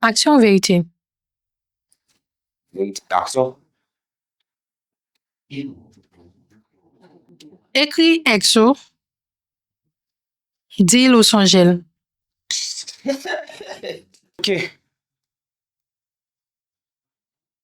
Aksyon ou verite? Verite ak aksyon. Ekri èks ou, di l ou sonje l.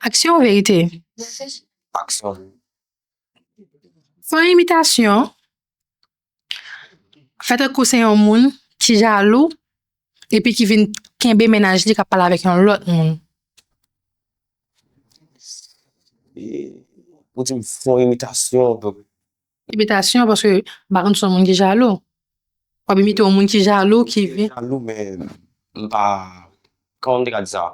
Aksyon ou verite? Aksyon. Fè yon imitasyon. Fè tankou se yon moun ki jalou epi ki vin kenbe mennaj li k ap pale avèk yon lòt moun. Ou di m fè yon imitasyon. Imitasyon paske m pa konn si w son moun ki jalou. W ap imite yon moun ki jalou ki vin. Jalou men m pa, kòman m te ka di sa?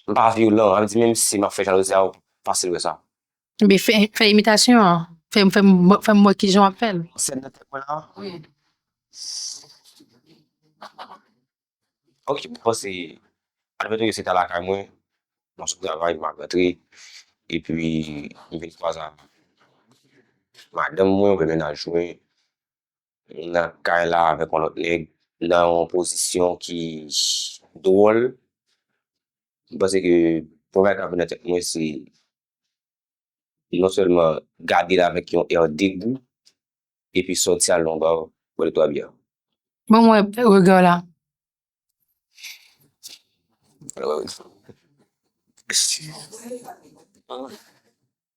M pa vyolan, sa vle di menmsi m ap fè jalouzi a ou fasil wè sa. Ebyen fè imitasyon an, fè m wè kijan w ap fè l. Sèn nan tèt mwen la? Ok mwen panse admettons ke se ta lakay mwen, mwen sou travay map rantre epi m vin kwaze ak madanm mwen oubyen mennaj mwen nan kay la avèk yon lòt nèg nan yon pozisyon ki dwòl, m panse ke premye bagay kap vin nan tèt mwen se. li non sèlman gade l avèk yon èr degou epi sòti al nan yon bar bwè 2 twa byè. Ban m wè rega w la. Ban m wè rega w la.